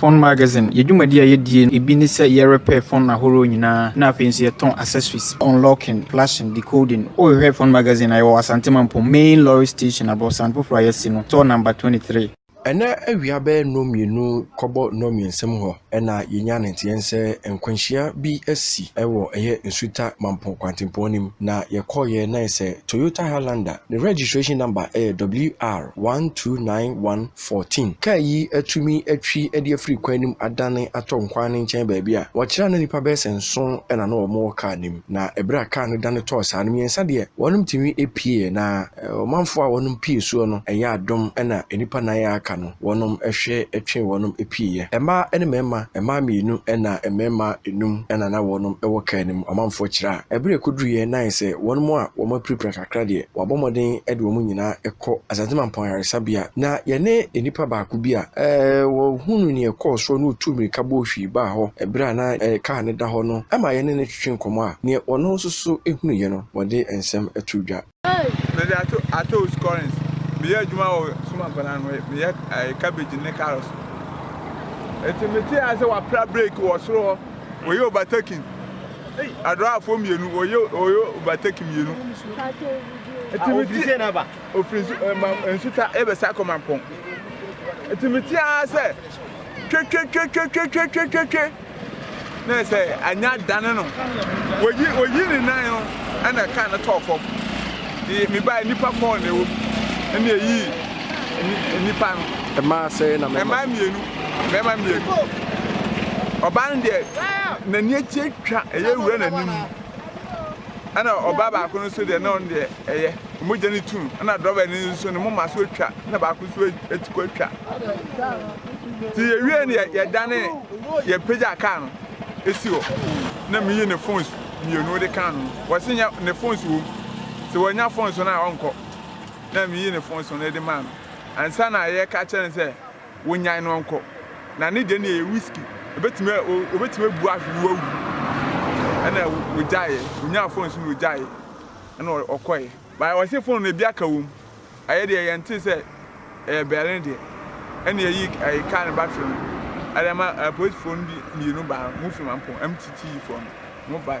Fon Magazine, Yɛ dwumadi a yedie no bi ne sɛ yɛ repair fon ahorow nyinaa na afei nso yɛ tɔn accessories, unlocking, flashing, decoding. Wo hwehwɛ Fon Magazine a, yɛ wɔ Asante Mampong Main Lorry Station aborosan foforɔ a yɛasi no, store number 23. Ɛnnɛ awia bɛyɛ nnɔ mmienu kɔbɔ nnɔ mmiɛnsa mu hɔ na yɛnya ne nteɛ nsɛ nkwanhyia bi asi wɔ ɛyɛ Nsuta Mampong kwantempɔn no mu na yɛkɔeɛ na ayɛ sɛ Toyota Highlander, ne registration number yɛ WR 1291. 14. Kaa yi atumi atwi de afiri kwan no mu adane atɔ nkwan no nkyɛn baabi a wɔkyerɛ a na nnipa bɛyɛ sɛ nson na na wɔwɔ kaa no mu, na bere a kaa no dane tɔɔ saa no, mmiɛnsa deɛ, wɔnom tumi pieeɛ, na ɔmanfoɔ a wɔnom pue soɔ no, ɛyɛ adom na nnipa nan a aka no, wɔnom hwe twee wɔnom pieeɛ. Mmaa ne mmarima, mmaa mmienu na mmarima nnum na na wɔnom wɔ kaa no mu, ɔmanfoɔ kyerɛ a bere a ɛkɔduruiɛ no ayɛ sɛ wɔnom a wɔapirapira kakra. Accra deɛ, wɔabɔ mmɔden de wɔn nyinaa kɔ Asante Mampɔn Ayaresabea, na yɛne nnipa baako bi a ɔhunuu nea ɛkɔɔ soɔ na ɔtuu mmirika bɔɔ hwii baa hɔ berɛ a na kaa no da hɔ no ma yɛne no twetwee nkɔmmɔ a nea ɔno nso so hunuiɛ no, ɔde nsɛm too dwa. Mede ato Atous Currens. Meyɛ adwuma wɔ Summa nkwadaa no hɔ. Meyɛ ɛɛ cabbage ne carrots. Eti metee ase sɛ wapra break wɔ soro hɔ. Wɔyɛ overtaking. Adorafoɔ mmienu wɔyɛ wɔyɛ overtake mmienu. Ɛtumi ti sɛ naba. Ofiri nsu ɛ ma nsuta ɛbɛ sa kɔ mampɔn. Ɛtumi ti ara sɛ twetwetwetwetwetwetwetwe na ɛsɛ anya dane no. Wɔyi wɔyi ne nan no ɛna kaa no tɔɔ fam. Yɛ mi ba nipa fɔɔ na ɛwɔ mu ɛna ɛyi nipa no. Ɛmaa sɛɛ na mɛma. Ɛmaa mmienu. mmarima mmienu. Ɔbaa no deɛ n'ani akyi atwa ɛyɛ wura n'anim. Ɛna ɔbaa baako no nso deɛ na ɔno deɛ ɛyɛ mogya no tu no. Ɛna dɔbɛ no nso ne moma so atwa na baako nso ati kɔ atwa. Nti yɛwie no yɛdane yɛpagya kaa no ɛsi hɔ na meyi ne phones mmienu de kaa no. Wɔse nyɛ ne phones wom sɛ wɔnya phones no a ɔnkɔ na meyi ne phones no de maa no. Ansa na yɛka kyerɛ no sɛ Wonyan no nkɔ. Na ne deɛ no yɛ risky. Ɛbɛtumi, wɔbɛtumi abu ahwe no wawu. Ɛna wɔgyaeɛ. Wɔnyaa phone nso na wɔgyaeɛ. Ɛna ɔkɔeɛ. But wɔse phone no ebi aka wom. Ɛyɛ deɛ yɛntee sɛ ɛyɛ Berlin deɛ. Ɛna yɛyii car no battery no. Ɛde ma apolisifoɔ no bi mmienu baa. Wɔfiri Mampong, MTTE foɔ no, wɔbaeɛ.